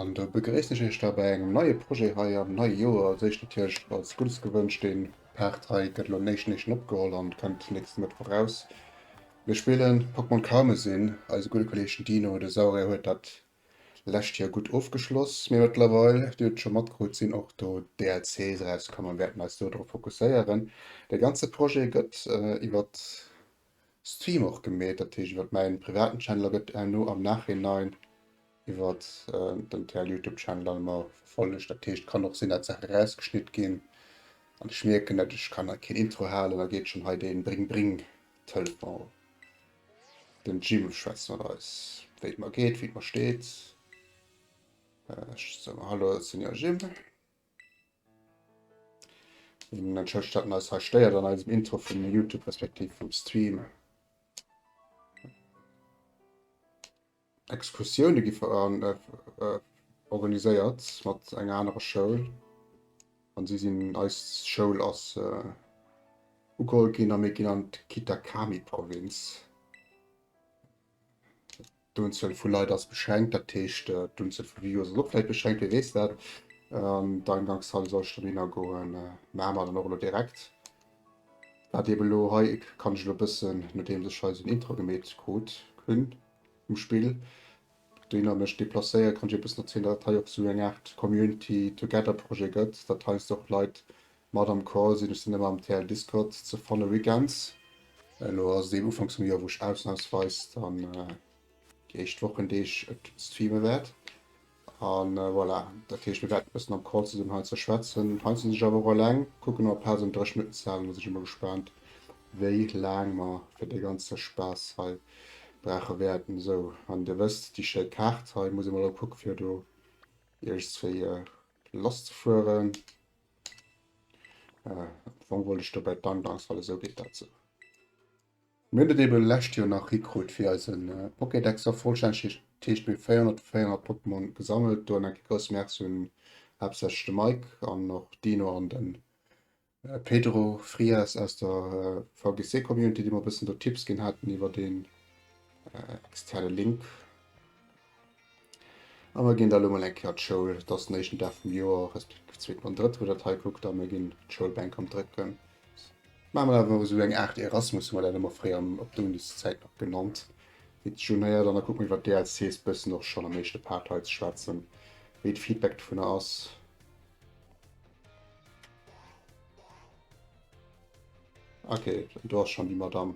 An do begréissen ech iech da bei engem neie Projet hei am neie Joer. Als éischt natierlech alles Guddes gewënscht. Dee Part hei gëtt elo néichten éischten opgeholl an kënnt nächste Mëttwoch eraus. Mir spillen Pokémon Karmesin. Eise gudde Kolleeg den Dino, de Saurier, huet dat Lescht Joer gutt ofgeschloss, mee mëttlerweil, Dir hutt et scho matkrut, sinn och do DLCs erauskomm a mir wäerten eis do drop fokusséieren. De ganze Projet gëtt iwwer Stream och gemeet, dat heescht iwwer mäin privaten Channel a gëtt herno am Nachhinein iwwer den TL Youtube Channel dann ëmmer verfollegt. Dat heescht, kann och sinn, dat Saachen erausgeschnitt ginn an ech mierken, dat ech kann hei keen Intro halen, da geet schonn hei dee Bring-Bring-Telefon. Den Jim schwätzt mat eis, wéi et mer geet, wéi et mer steet. Ech soe mer Hallo, Senior Jim. Den entschëllegt, datt en eis hei stéiert an eisem Intro vum Youtube respektiv vum Stream. Excursioune gi organiséiert mat enger anerer Schoul an si sinn eis Schoul ass ugeholl ginn a mir ginn an d'Kitakami Provinz. D'Unzuel vu Leit ass beschränkt, dat heescht d'Unzuel vu Views ass och vläit beschränkt, wee weess dat. An d'Agankshalle soll ech dann hinner goen, maache mer dann och elo direkt. Wat eeben elo hei kann ech elo e bëssen, nodeems ech hei esou en Intro gemeet krut hunn, um Spill. Deen an ech deplacéiert kann ech eppes erzielen, dat et hei och esou eng Art Community Together Projet gëtt, dat heiansdo och Leit mat am Call sinn. Ech sinn ëmmer am TL Discord ze fanne weekends. Elo ass et eben ufanks vum Joer, wou ech ausnamsweis dann déi éischt Wochendeeg et streame wäert. A voilà, dat heescht, mir wäerten e bëssen am Call zesummen hei ze schwätzen. Hei sinn ech awer och eleng. Kucken nach op d'Plaz an dréchen net z'halen. Da sinn ech emol gespaant, wéi laang mer fir dee ganze Spaass hei brauche wäerten. Sou, an Dir wësst, déi schéi Kaart hei. Muss emol elo kucken, fir do iergendzwéi lasszefueren. Am Fong wollt ech dobäi d'Angangs, well esou geet dat sou. Mir hunn et eben lescht Joer nach hikrut fir eisen Pokédex a vollstänneg t heescht mir 404 Pokémon gesammelt. Do en enke grousse Merci un haaptsächlech de Mike an och Dino an den Pedro Frias aus der VGC Community déi mer e bëssen do Tipps ginn haten iwwert een externe Link. A mer ginn da lo mol eng Kéier d'Schoul, et ass den éischten Dag vum Joer, respektiv zweeten an drëtten, wou der d'hei kuckt, a mer ginn d'Schoulbänk am drécken. Maache mer awer esou eng Aart Erasmus, hu mer dat ëmmer fréier op der Uniszäit nach genannt, fir d'Jhun héiert an da kucke mer iwwert d'DLCs bëssen och schonn am éischte Part hei ze schwätzen, wéi d'Feedback dovunner ass. Ok, do ass schonn déi Madamm.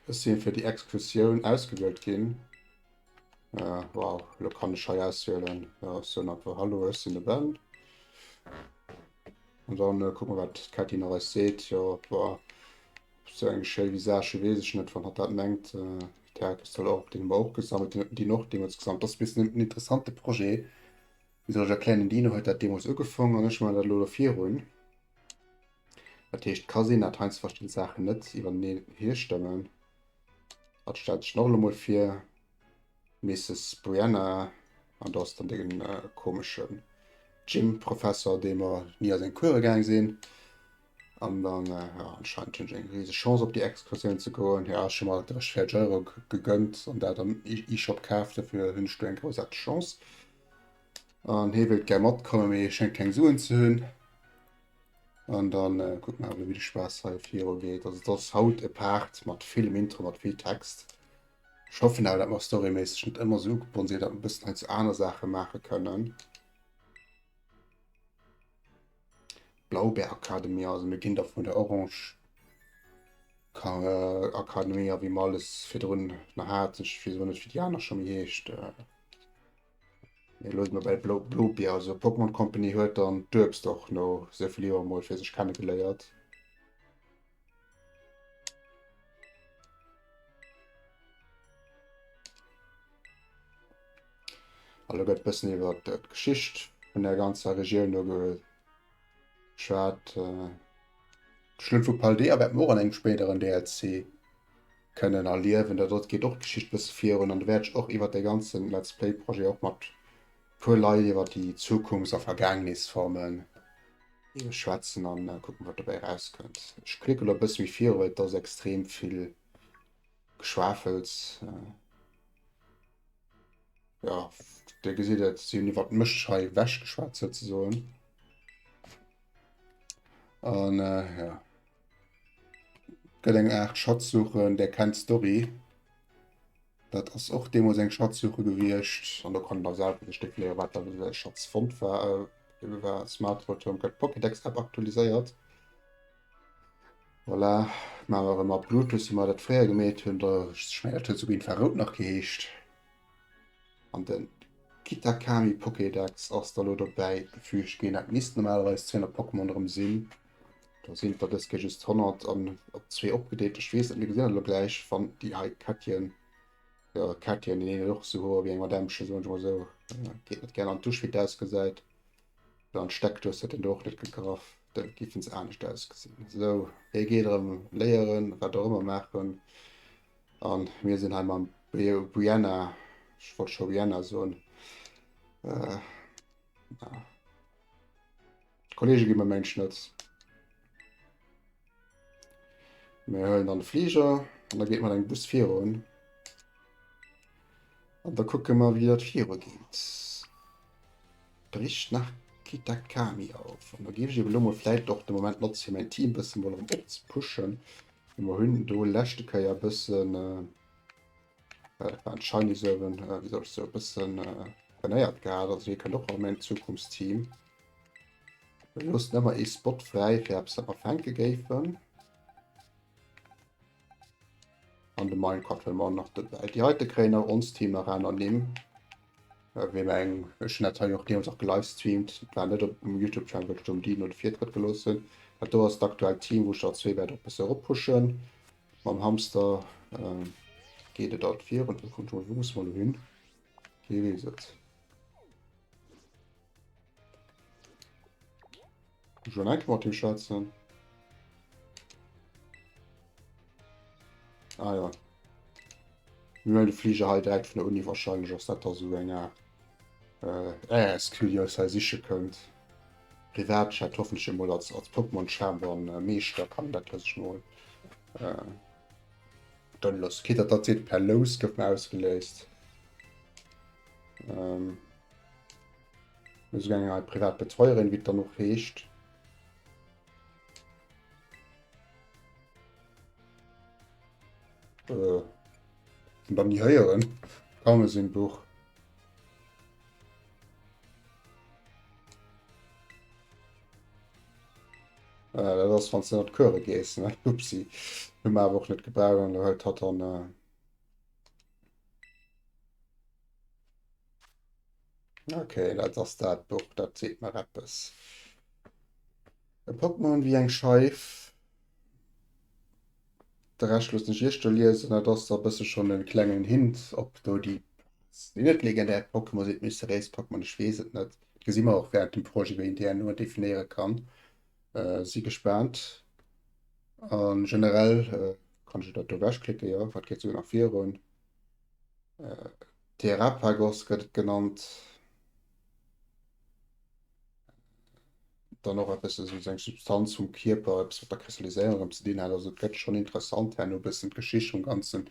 Ech sinn fir déi Exkursioun ausgewielt ginn. Äh, wow, lo kann ech hei auswielen. Ja, ech soen einfach Hallo, ech sinn de Ben. An dann äh, kucken, wat d'Kätti nach eis seet. Jo, boah, so eng schéi Visage weess ech net, wann hat dat mengt. Äh, D'Häre soll och op deem Bauch gesammelt hunn, déi och deemools gesammelt. Ass bis en interessante Projet. Wéi soll ech erklären, den Dino huet dat deemools ugefaangen an ech maachen dat lo ervirun. Dat heescht, et ka sinn, dat heiansdo verschidde Saachen net iwwerteneen hierstëmmen. Dat stellt sech noch emol fir. Mrs. Brianna an do ass dann den äh, komeschen Gym-Professor, dee mer nie a seng Kuere gaang sinn. An dann äh, ja, anscheinend hunn eng rieseg Chance op déi Exkursioun ze goen. Ja, schon mal 30 Euro gegönnt an dat am E-Shop kaaft, dofir hunn ech do eng grousarteg Chance. An hee wéilt gär matkommen, mee schéngt keng Suen ze hunn. An dann kuck mer awer wéi de Spaass hei viru geet. Also et ass haut e Part mat villem Intro, mat vill Text. Ech hoffen awer dat mer storyméisseg net ëmmer sou ugebonn sinn, dat mer e bëssen hei zu aner Saache maache kënnen. Blaubeer Akademie, also mir ginn da vun der Orange Akademie a wéi mer alles virdrun nach haten, ech weess awer net wéi déi aner scho méi heescht. Mir loosen dobäi d'Blo Blopia, also d'Pokémon Company huet dann d'Uebst och no sou vill Joer mol fir sech kenne geléiert. Allo gëtt bëssen iwwer d'Geschicht vun der ganzer Regioun no geschwat. Äh, Schlutt vu Paldea wäert mer och an engem spéideren DLC Kënnen erliewen. Da dot geet och d'Geschicht bësse virun an do wäert ech och iwwert dee ganzen Let's Play Projet och mat puer Leit iwwert déi Zukunfts a Vergaangnisformen schwätzen an kucken wat dobäi rauskënnt. Ech klicke lo bësse méi virun, well et ass extrem vill Geschwafels. Jo, dir gesitt et, si hunn iwwert mech hei ewechgeschwat souzesoen an jo. Gëtt eng Art Schatzsuche, där kennt d'Story. Dat ass och deemools eng Schatzsuche gewiescht. An do kann der selwer sech definéieren, wat dann e Schatz fonnt war. Eebe war Smartvotoen, gëtt d'Pokédex-App aktualiséiert. Voilà, maache mer erëm mat Bluetooth, wéi mer dat fréier gemeet hunn. Da, ech mengen, dat huet esouguer Infrarout nach geheescht. An de Kitakami-Pokédex ass da elo dobäi gefüügt ginn. Dat misst normalerweis 200 Pokémon erëm sinn. Do sinn der des Kéier just 100 an op zwee opgedeelt. Ech weess net, mir gesinn elo gläich, wann déi hei Kettchen, ja, Kettchen, déi nennen och so hoer wéi eng Madämmchen, soen ech mal so. Ja, geet net gären an d'Dusch, wéi et ausgesäit. Well an d'Steckdous hätt en do och net gegraff. Da géifen se anescht ausgesinn. So, hie geet erëm léieren, wat och ëmmer maachen. An mir sinn hei mam Brio Brianna, ech wollt scho Rihanna soen, äh, ja. D'Kollege gi mer meng Schnëtz. Mir huelen dann de Fliger an da geet mat engem Bus virun. An da kucke mer wéi dat viru geet. Bricht nach Kitakami auf. An da géif ech eben elo mol vläicht och de Moment notze fir mäin Team bësse mol erëm opzepushen. Mer hunn do leschte Kéier bëssen äh, dat war en Shiny Servant, äh, wéi soll ech soe, bëssen äh, trainéiert gehat. Also hie kënnt och an mäin Zukunftsteam. Mir loossen ëmmer ee Spot fräi fir eppes dat mer fänke géifen. An de Minecraft well mer nach dobäi. Déi heite kréien nach ons Team nach aner Nimm. Äh, wéi mer eng, ech hun dat hei och deemools och gelivestreamt, dat war net op dem Youtube Channel, well ech do dem Dino de Virtrëtt gelooss hunn. Dat do ass d'aktuellt Team, wou ech der zwee wäert och e bësse eropushen. Mam Hamster äh, geet et alt virun. Wou muss mer elo hin? Wee weess et? Schon eng mat him schwätzen. Ah ja. Wir wollen den Flieger halt direkt von der Uni wahrscheinlich aus der so länger. Äh, äh, es kühl ja, sei sicher könnt. Privat hat hoffentlich mal als, als Pokémon Chamber und äh, Meister kann das das ich mal. Äh, dann los. Geht das tatsächlich per Los, gibt mir ausgelöst. Ähm, Muss eng eng privat Betreuerin wit dann och heescht. Äh, dann nie heieren kann sinn Buch. Äh, dat ass wann ze net Chöre gees ne Upsi hu mer awer och net gebraucht an huet hat an. Äh, Ok, dat ass dat Buch, dat seet mer eppes. E Pokémon wéi eng Scheif. De Rescht loossen ech Iech do liesen. Dat ass e bësse schonn e klengen Hint op do déi net legendär Pokémon sinn, mysteriéis Pokémon, ech weess et net. Dat gesi mer och wärend dem Projet, wéi een déi herno definéiere kann. Si gespaant. A generell kann ech dat do ewechklicken, jo, wat geet souguer nach virun. Terrapagos gëtt et genannt. Dann och eppes esou eng Substanz vum Kierper, eppes wat der Kristalliséierung ëm ze dinn hat. Also et gëtt schonn interessant herno. E bëssen d'Geschicht vum ganzen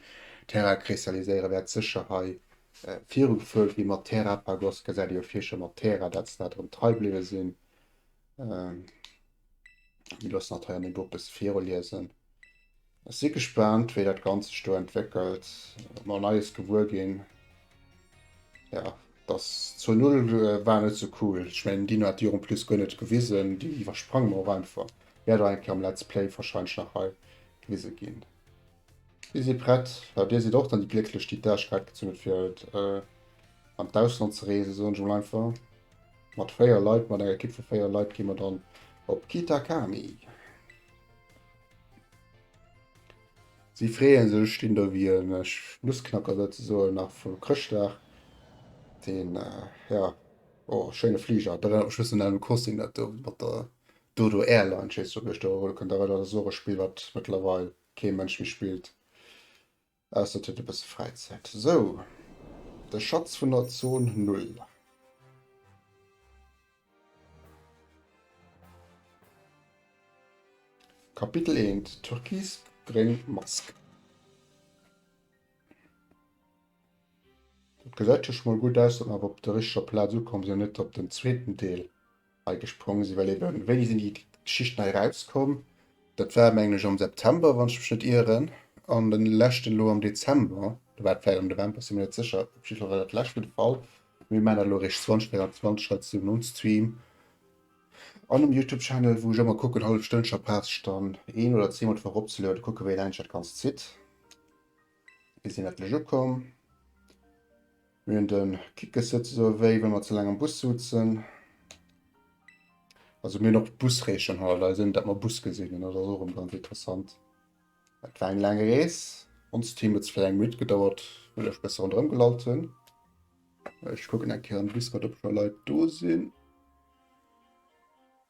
Terrakristalliséiere wäert sécher hei virugefuert gi mat Terrapagos. Gesäit ee jo vir scho mat Terra, dat se dat erëm trei bliwwe sinn. Mir loossen dat hei an Niveau e bësse viroliesen. Ech si gespaant, wéi dat Ganze sech do entwéckelt. Mal Neies gewuer ginn. Ja, dass zur Null äh, war net so cool. Ech mengen, Dino hat Dir en plus guer net gewisen. Déi iwwersprange mer och einfach. Wäert och eng Kéier am Let's Play wahrscheinlech nach hei gewise ginn. Si si prett, well Dir sidd och dann déi Glécklech, déi d'Äerch wäit gezunn hutt fir haut an d'Ausland ze reesen, soen ech emol einfach. Mat 4 Leit, mat enger Ekipp vu 4 Leit gi mer dann op Kitakami. Si freeën sech, ech stinn do wéi e Nussknacker souzesoen nach vu Chrëschtdag. Deen, jo, o schéine Fliger, et erënnert mech e bëssen un de Kossin dat do mat der Dodo Airline, ech weess net ob Dir Iech do erhuele kënnt, dat war dat Sorespill wat mëttlerweil Kee Mënsch méi spillt, ausser et huet e bësse Fräizäit. Sou, de Schatz vun der Zon Null. Kapitel 1, Türkis-gréng Mask. Dat gesäit jo scho mol gutt aus, datt mer awer op der richteger Plaz ukomm sinn an net op den zweeten Deel. hei gesprong sinn, well eben, wéini sinn déi Geschichten hei erauskomm? Dat war mengen ech am September, wann ech mech net ieren, an de leschten elo am Dezember, oder war et vläicht am November, sinn mer net sécher, op jiddwer Fall war dat lescht vun de Fall. Mir maachen dat elo eréischt 2024 hei zu nom Stream an um Youtube Channel, wou ech ëmmer kucken, hallef Stënnche a Pass dann een oder zweemol d'Woch eropzelueden, kucke wéi laang ech dat Ganzt zitt. Mir sinn ettlech ukomm. Mir hunn de Kickes souzesoe wéi wa mer ze laang am Bus sutzen. Also mir noch d'Busreechen hall, also net dat mer Bus gesinn hunn, dat ass och ganz interessant. Et war eng laang Rees. Ons Team huet fir eng Minutt gedauert, well ech besser rondrëm gelallt hunn. Ech kucken eng Kéier an Discord, ob scho Leit do sinn.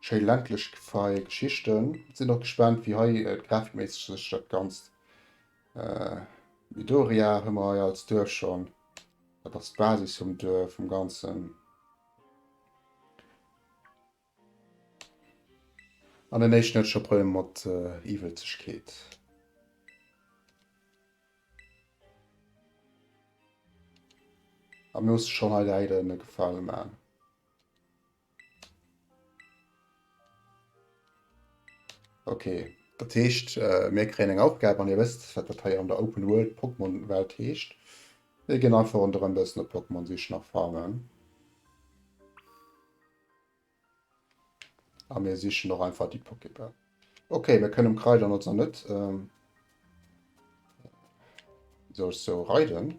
Schéi ländlech feie Geschichten. Sinn och gespannt wéi hei grafikméisseg sech dat Ganzt Midoriya hu mer hei als Duerf schonn, dat ass d'Basis vum Duerf vum Ganzen. An den éischten huet scho Problemer mat Iwwelzegkeet. A mir musse schonn hei de Heide e Gefale man. Okay, dat heescht mir kréien eng Aufgab an dir wësst wat dat hei an der Open World Pokémon Welt heescht. Mir ginn einfach ronderëm bëssen op Pokémon sichen a farmen. A mir sichen och einfach déi Pokéball. Okay, mir kënnen Kreider notz an net ähm, soll so reiden.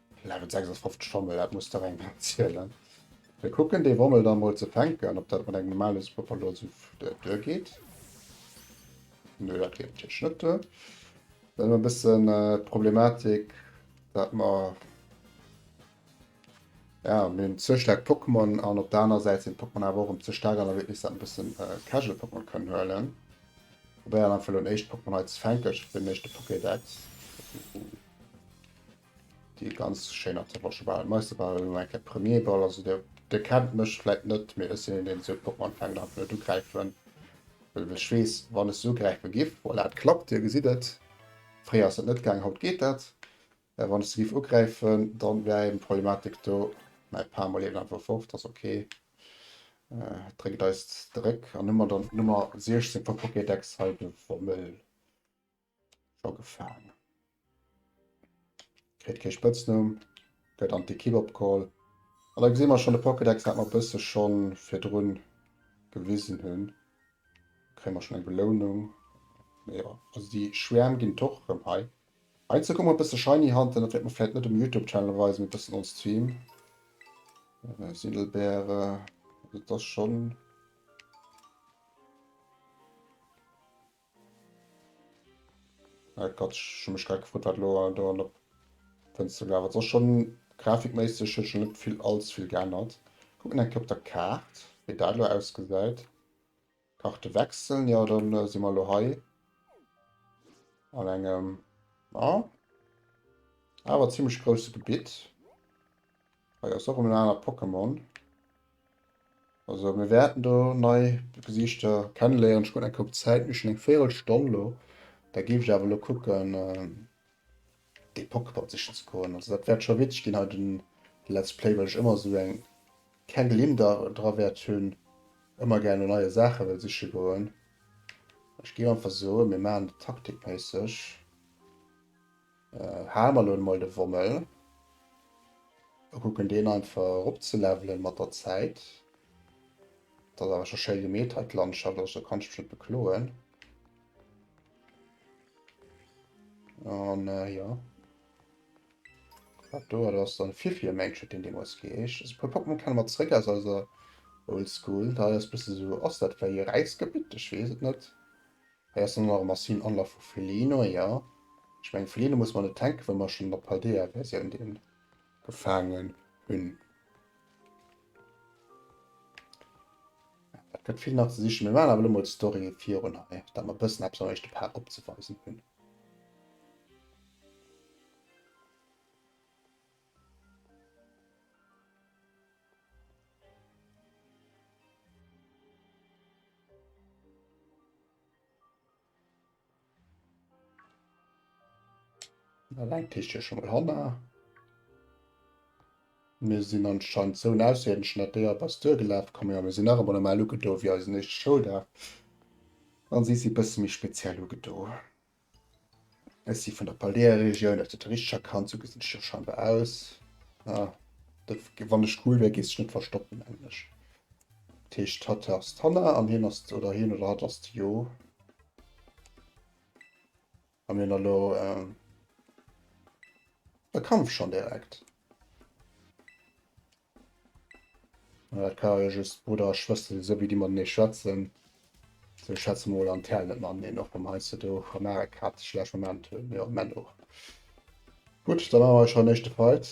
Level 56 Schommel, dat muss der eng zielen. Wir kucken de Wommel da mol ze fänken, ob dat mat engem normale Superpower lo so duer geht. Nö, dat geht natürlich net duer. Dann haben wir ein bisschen äh, Problematik, dat mer ja, mir hunn ze stark Pokémon an op der aner Säit sinn Pokémon awer och um ze stark an der Witnis dat bëssen äh, Casual Pokémon kënnen huelen. Probéier an Fall un éischt Pokémon hei ze fänken, den éischte Pokédex. Déi ganz schéin an zerbroche Bal. Mais de Bal elo eng Kéier Premier Ball. Also dir dir kennt mech vläit net, mee ech sinn een deen esou Poppen anfänken an blöd ugräifen. Well ech weess wann ech esou gräife giff, voilà et klappt, dir gesitt et, fréier ass dat net gaangen, haut geet dat. Mä wann ech se giff ugräifen, dann wär eben d'Problematik do, mäi Par mol eben einfach fort, ass ok. Et dréckt eis zeréck an hu mer dann d'Nummer 16 vum Pokédex hei de Wommel. Scho gefaangen. Kritt kee Spëtznumm, gëtt an d'Ekipp opgeholl. An da gesi mer schonn de Pokédex, dat mer e bësse scho virdru gewisen hunn. Kréie mer schonn eng Belounung. Mee jo, also déi Schwäerm ginn et och erëm hei. Heiansdo komme mer e bësse Shiny hanter, dat wäert mer vläicht net um Youtube-Channel weisen, mee e bëssen on Stream. Sindelbeere, also dat ass schonn. Ah Gott, ech hu mech grad gefrot wat elo do an der Fënster gelaf ass. Ass schon grafikméisseg huet scho net vill allz vill geännert. Kucken eng Kéier op der Kaart wéi dat elo ausgesäit. Karte wechseln, jo dann si mer elo hei an engem a awer zimmlech grousse Gebitt. Hei ass och erëm en anert Pokémon. Also mir wäerten do nei Gesiichter kennenléieren. Ech kucken eng Kéier op d'Zäit, mir hu schonn eng Virelstonn elo. Da géif ech awer elo kucken, de Pokémon sichen ze goen. Also dat wäert scho witzeg ginn hei den Let's Play, well ech ëmmer esou eng keng Gelimm da dra wäert hunn, ëmmer gär no neie Saache wëll siche goen. Ech géif einfach soen, mir maachen et taktikméisseg. Äh, hale mer elo emol de Wommel a kucken deen einfach eropzelevelen mat der Zäit. Dat ass awer scho schéi gemeet hei d'Landschaft, also do kann ech mech net bekloen. An äh, jo. Dat do, dat ass dann Fifiamage huet deen deemools geheescht. Also e puer Pokémon kenne mer zeréck aus eiser Oldschool. Dat hei ass e bësse sou, ass dat vläicht e Räisgebitt? Ech weess et net. Hei ass dann nach e massiven Anlaf vu Felino, jo. Ech mengen, Felino muss mer net tänken, wa mer schonn an der Paldea-Versioun dee gefaangen hunn. Dat gëtt vill nach ze sichen. Mir maachen awer elo mol d'Story virun hei, datt mer e bëssen eppes am éischte Part opzeweisen hunn. Eng Kiste ass schonn mol hanner. Mir sinn anscheinend esou en ausserierdeschen Ateur op eis duergelaf. Komm jo, mir sinn nach emol normal ugedo wéi eisen éischte Schouldag. An si si e bësse méi speziell ugedo. Ech si vun der Paldea-Regioun, aus der touristescher Kant, sou gesinn ech jo scheinbar aus. Ah, dat, wann ech cool wär, géifs du net verstoppen, mengen ech. Dat heescht, hatt ass d'Hanna an hien ass, oder hien oder hatt ass d'Jo. A mir hunn elo e Kampf schonn direkt. Dat ka jo just Brudder a Schwëster sinn, esou wéi déi matenee schwätzen. Esou ech schätze mol an d'Hären net mateneen, och wann heiansdo do Amerika ze schlecht Moment hunn. Jo, Männ och. Gutt, da maache mer schon den éischte Fight.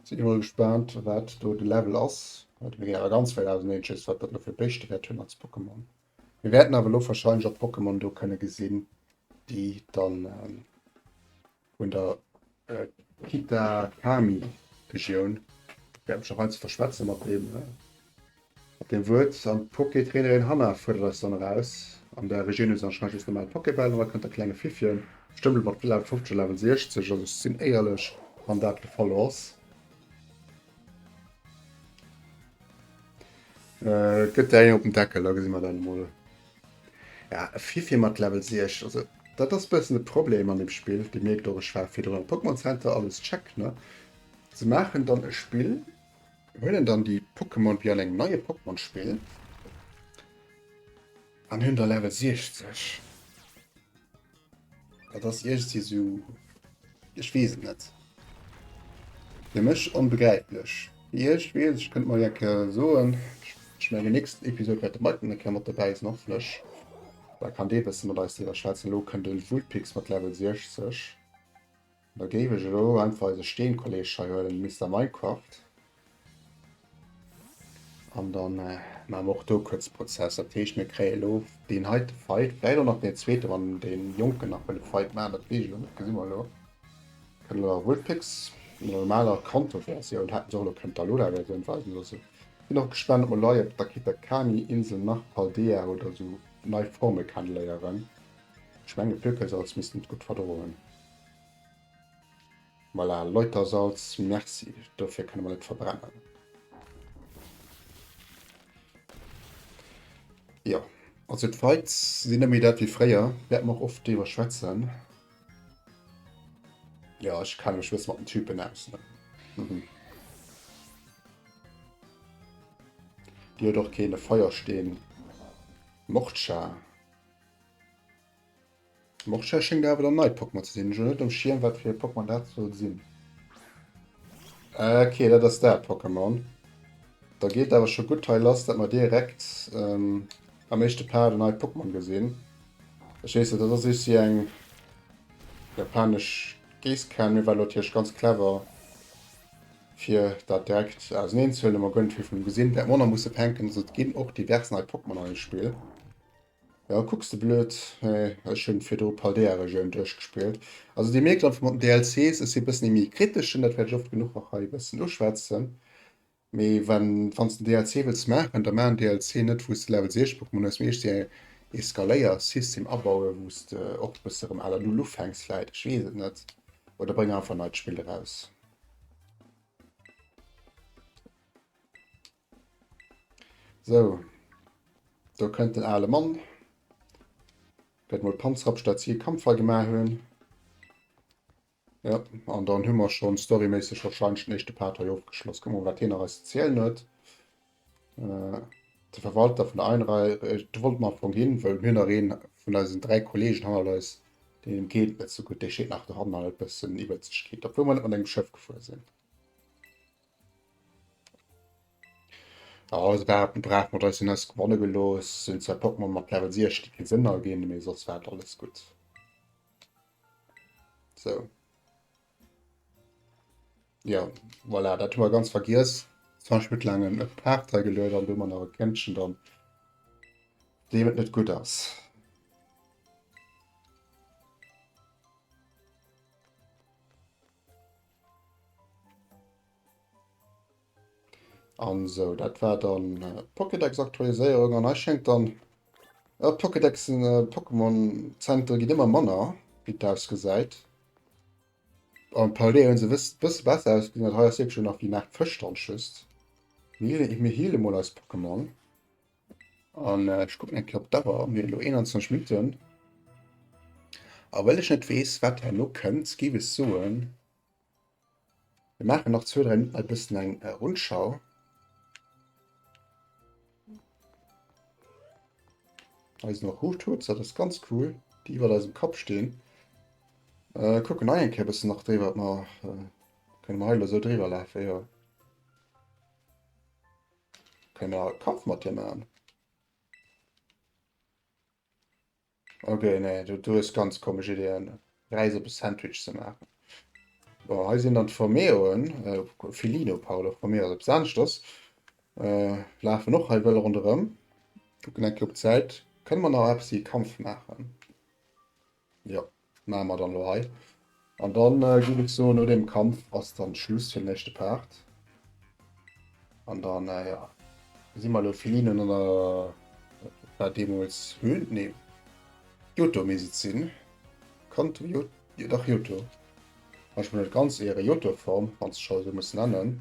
Sinn emol gespaant, wat do de Level ass. Wat mir awer ganz wäit auseneen schësst, wat dat elo fir Béischte wäert hunn als Pokémon. Mir wäerten awer elo warscheinlech och Pokémon do kënne gesinn, déi dann vun der Kitakami-Regioun. Et wäert mech och heiansdo verschwätze mat deem Wuert. An d'Poké-Trainerin Hannah fuerdert eis dann eraus. An der Regioun hu se anscheinend just normal Pokébäll an da kënnt der klenge Fiffchen, bestëmmt elo mat Level 50 oder Level 60, also ech sinn éierlech, wann dat de Fall ass, gëtt där een op den Deckel, da gesi mer dann emol. Ja, e Fifi mat Level 6, also dat ass e bëssen e Problem an deem Spill. Dir mierkt och, ech war virdrun am Pokémon Center, alles check, ne? Se maachen dann e Spill, huelen dann déi Pokémon wéi an engem neie Pokémon-Spill an hunn da Level 60. Dat ass iergsi sou. Ech weess et net. Fir mech onbegräiflech. Fir iech, wee es? Ech kënnt mol enke soen, ech mengen déi nächst Episod wäert de Mike dann eng Kéier mat dobäi sinn, hoffentlech. Da kann dee e bësse mat eis driwwer schwätzen. Elo kënnt de Vulpix mat Level 60. Da géif ech elo einfach eise Steenkolleg hei huelen, Mister Minecraft. An da maache mer och do kuerz Prozess. Dat heescht, mir kréie elo deen heite Fight, vläicht och nach deen zweete wann dee Jonken nach wëll e Fight maachen, dat weess ech elo net, dat gesi mer elo. Kënne mer Vulpix an der normaler Kanto-Versioun, hätte se och elo kënnen d'Alola-Versioun weisen loossen. Sinn och gespaant, ob mer lei op der Kitakami Insel nach Paldea oder esou nei Forme kennenléieren. Ech menge Pökésalz misst en et gutt verdroen. Voilà, Läutersalz, merci. Dofir kënne mer net verbrennen. Jo, also d'Vibes sinn net méi dat wéi fréier. Wäerte mer och oft driwwer schwätzen. Jo, ech kenne mech e bësse mat den Typen aus, ne? Mhm. Dir huet och keen e Feiersteen, Mordscha. Morchia schéngt awer der neit Pokémon ze sinn. Ech hunn net um Schierm wat fir ee Pokémon dat soll sinn. Ok, dat ass dat Pokémon. Da geet awer scho gutt hei lass, dat mer direkt ähm, am éischte Part en neit Pokémon gesinn. Ech weess net, dat ass iech si eng japanesch Géisskan. Mir war natierlech ganz clever fir dat direkt auseneen ze huelen. Mä gouf net vill vun em gesinn. Wäert mer och nach musse fänken, ass et ginn och divers nei Pokémon an dem Spill. Jo, kucks de blöd, mä ech hunn virdru Paldea-Regioun duerchgespillt. Also dir mierkt einfach mat den DLCs, ech si bëssen ee méi kriteschen, dat wäert ech oft genuch och hei bëssen uschwätzen, mee wann wanns de DLC wëlls maachen, da maa en DLC net wou s de Level 60 brauchs, mä muss méi eescht ee Skaléiersystem abauen, wou s de och bësse rëm à la Null ufänks vläit, ech weess et net, oder bréng einfach e neit Spill eraus. Sou, do kënnt den ale Mann. Gëtt mol d'Panzer op statt si e Kampfei gemaach hunn. Ja, an dann hu mer schon storyméisseg wahrscheinlech den éischte Part hei ofgeschloss. Kucken wir mol, wat hien nach eis ze zielen huet. Äh, de Verwalter vun der Einrei, de wollt mer am Fong ginn, wëll mir nach een vun eisen dräi Kollegen hannert eis, deen geet net sou gutt, dee scheet nach dohannen, an huet bëssen Iwwerzegkeet, obwuel mer net mat engem Schëff gefuer sinn. Oh, also war hatten brav mat eisen Haus gewonnen gelos sind zwei Pokémon mat Level 6 die keinen Sinn ergeben mir sonst war alles gut so ja voilà dat war ganz vergiss 20 mit langen äh, Partei gelöst an du man eure Kännchen dann dem net gut ass An sou, dat war dann äh, Pokédex-Aktualiséierung an hei schéngt dann äh, Pokédexen, äh, Pokémon-Zentren ginn ëmmer manner, wéi et ausgesäit. An parallel hunn se wëss bësse besser ausgesinn, dat hei ass wierklech nach wéi nach Fësch dran, just. Mir heale mol eis Pokémon. An äh, ech kucken eng Kéier op d'Auer, mir hunn elo 21 Minutten. A well ech net weess, wat herno kënnt, géif ech soen, mir maachen nach zwou, dräi Minutten e bëssen eng äh, Rundschau. Eisen nach Hochtour, dat ass ganz cool, déi iwwer eisem Kapp stehen. Äh, kucken eng Kéier bëssen nach dréi, wat mer äh, kënne mer heilo sou dréiwer lafen, jo. Kënne mer e Kampf mat hir maachen? Ok, nee, du, du hues ganz komesch Ideeën. Reis op e Sandwich ze maachen. Bon, hei sinn dann d'Formeoen. Äh, Filino, pardon, Formeo ass op Sanschtos. Äh, lafen och hei wëll ronderëm. Gucken eng Kéier op d'Säit. Kënne mer nach eppes wéi e Kampf maachen? Jo, maache mer dann elo hei. An dann géif ech soen, no deem Kampf ass dann Schluss fir den éischte Part. An dann, ja, si mer elo Felinen an der, dat war deemools Höhle, nee, Johto misst et sinn, Kanto, jo, dach Johto, wann ech mech net ganz iere, Johto-Form, wann s de scho esou muss nennen.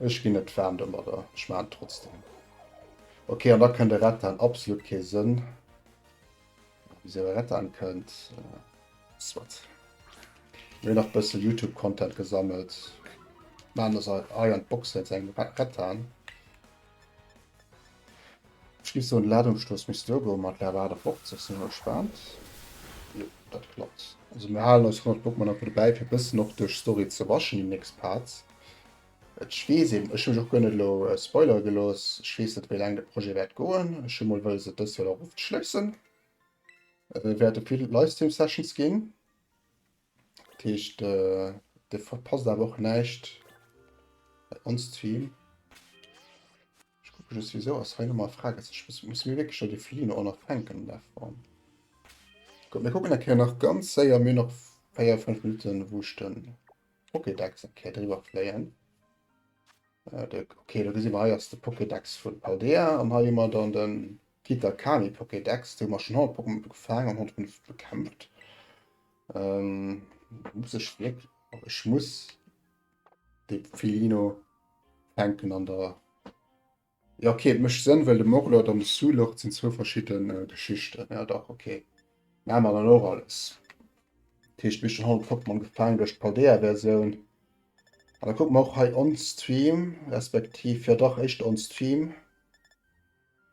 Ech gin net waarm domadder, ech maan et trotzdem. Ok an da kënnt e Rattan, absolut kee Sënn wisou e Rattan kënnt. Soit, mir hun nach bëssen Youtube Content gesammelt, maan ass ei an d'Box net, se engem Rattan. Ech géif soen, de Ladungsstoss misst do goen, mat Lab 58 sinn ech gespaant. Jo, dat klappt. Also mir halen eis 100 Pokémon einfach dobäi, fir e bëssen och duerch d'Story ze rushen, déi nächst Parts. Ech weess eben, ech hu mech och guer net elo spoilere gelooss, ech weess net, wéi laang de Projet wäert goen. Ech hu mol wëlles, et dëst Joer nach ofzeschléissen. Et wäerte vill Livestream-Sessions ginn. Dat heescht, Dir verpasst awer och näischt bei ons Stream. Ech kucke just, wisou ass hei nomal Frages. Ech muss, muss mir wierklech do de Felino och nach fänken an der Form. Guck, mir kucken eng Kéier nach ganz séier, mir hunn nach 4, 5 Minutten, wou ech den Pokédex eng Kéier driwwer fléien. Äh, de, okay, do gesi mer, hei ass de Pokédex vun Paldea an hei hu mer dann den Kita Kani Pokédex, do hu mer schonn all Pokémon do gefaangen an 105 bekämpft. Muss ech wierklech. Oh, ech muss de Filiino fänken an der. Ja, okay, et mécht Sënn, well de Morlord an de Su-Lord sinn zwou verschidde Geschichten. Ja, dach, okay. Maache mer dann och alles. Dat heescht, mir hu schonn all Pokémon gefaangen duerch d'Paldea-Versioun. An da kucke mer och hei on-stream, respektiv, jo dach, éischter on-stream.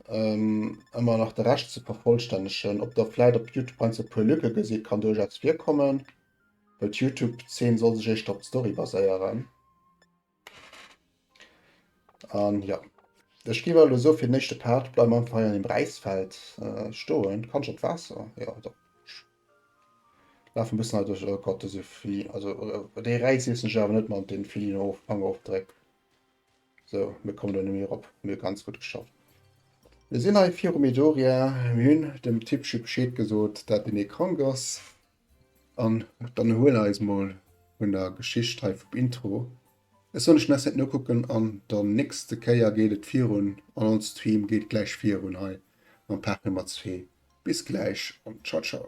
Ëmmer nach de Rescht ze vervollstännegen. Ob der vläit op Youtube heiansdo e puer Lücke gesitt, kann duerchaus virkommen, well d'Youtube-Zeen soll sech éischter op d'Story baséieren. An jo, ech géif awer elo soen, fir den éischte Part bleiwe mer einfach hei an dem Räisfeld stoen. Kann ech op d'Waasser? Jo, do. Lafe e bëssen hei duerch. Oh Gott, dëse Feli-, also dee Räis iessen ech awer net mat deene Felinoofangopdréck. So, mir kommen do net méi erop. Mee ganz gutt geschafft. Mir sinn hei viru Midoriya. Mir hunn dem Tippchi Bescheed gesot, dat den ee krank ass. An dann erhuelen eis mol vun der Geschicht hei vum Intro. Ech soen, ech muss net nokucken an der nächste Kéier geet et virun an ons Stream geet gläich virun hei mam Paart Nummer 2. Bis gläich an ciao ciao.